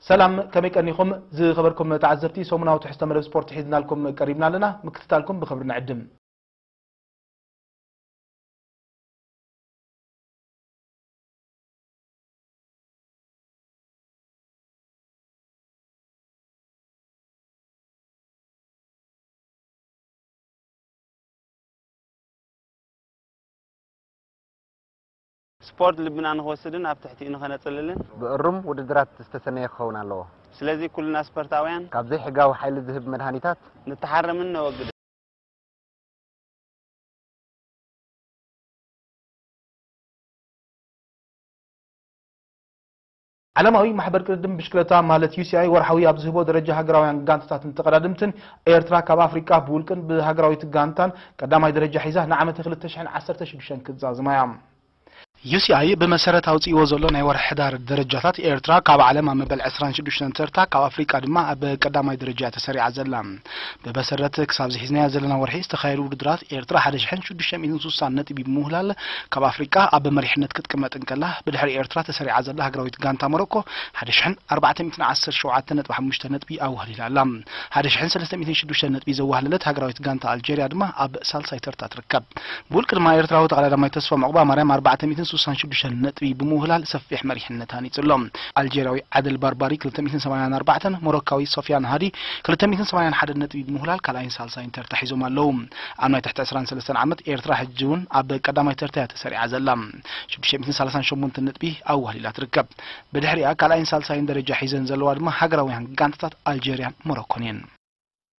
ሰላም ከመይ ቀኒኹም ዝኸበርኩም ተዓዘብቲ ሰሙናዊ ትሕዝቶ መደብ ስፖርት ሒዝናልኩም ቀሪብና ኣለና ምክትታልኩም ብኽብሪ ንዕድም። ስፖርት ልብና ንክወስድን ኣብ ትሕቲኡ ንከነጽልልን። ብእሩም ውድድራት ዝተሰነየ ክኸውን ኣለዎ። ስለዚ ኩልና ስፐርታውያን። ካብ ዘይሕጋዊ ሓይሊ ዝህብ መድሃኒታት። ንተሓረምን ነወግድን። ዓለማዊ ማሕበር ቅድድም ብሽክለታ ማለት UCI ወርሓዊ ኣብ ዝህቦ ደረጃ ሃገራውያን ጋንታታትን ተቐዳድምትን፣ ኤርትራ ካብ ኣፍሪቃ ብውልቅን ብሃገራዊት ጋንታን ቀዳማይ ደረጃ ሒዛ ንዓመተ ክልተ ሽሕን ዓሰርተ ሽዱሽተን ክትዛዝማ እያ። UCI ብመሰረት ኣውጺእዎ ዘሎ ናይ ወርሒ ሕዳር ደረጃታት፣ ኤርትራ ካብ ዓለም ኣብ መበል ዕስራን ሽዱሽተን ተርታ፣ ካብ ኣፍሪቃ ድማ ኣብ ቀዳማይ ደረጃ እያ ተሰሪዓ ዘላ። ብመሰረት ክሳብዚ ሒዝናዮ ዘለና ወርሒ ዝተኻየዱ ውድድራት ኤርትራ ሓደ ሽሕን ሽዱሽተ ሚእትን ስሳን ነጥቢ ብምውህላል ካብ ኣፍሪቃ ኣብ መሪሕነት ክትቅመጥ እንከላ ብድሕሪ ኤርትራ ተሰሪዓ ዘላ ሃገራዊት ጋንታ ሞሮኮ ሓደ ሽሕን ኣርባዕተ ሚእትን ዓሰርተ ሸውዓተ ነጥቢ ሓሙሽተ ነጥቢ ኣዋህሊላ ኣላ ሓደ ሽሕን ሰለስተ ሚእትን ሽዱሽተ ነጥቢ ዘዋህለለት ሃገራዊት ጋንታ ኣልጀርያ ድማ ኣብ ሳልሳይ ተርታ ይርከብ። ብውልቂ ድማ ኤርትራዊ ተቐዳዳማይ ተስፎም ዑቕባማርያም ኣርባዕተ ሚእትን ስሳን ሽዱሽተን ነጥቢ ብምውህላል ሰፊሕ መሪሕነት ሃኒጹ ኣሎ። ኣልጀርያዊ ዓደል ባርባሪ ክልተ ሚእትን ሰማንያን ኣርባዕተን ሞሮካዊ ሶፍያን ሃዲ ክልተ ሚእትን ሰማንያን ሓደን ነጥቢ ብምውህላል ካልኣይን ሳልሳይን ተርታ ሒዞም ኣለዉ። ኣብ ናይ ትሕቲ ዕስራን ሰለስተን ዓመት ኤርትራ ሕጂ'ውን ኣብ ቀዳማይ ተርታ እያ ተሰሪዓ ዘላ። ሽዱሽተ ሚእትን ሰላሳን ሸሞንተን ነጥቢ ኣዋህሊላ ትርከብ። ብድሕሪኣ ካልኣይን ሳልሳይን ደረጃ ሒዘን ዘለዋ ድማ ሃገራውያን ጋንታታት ኣልጀርያን ሞሮኮን እየን።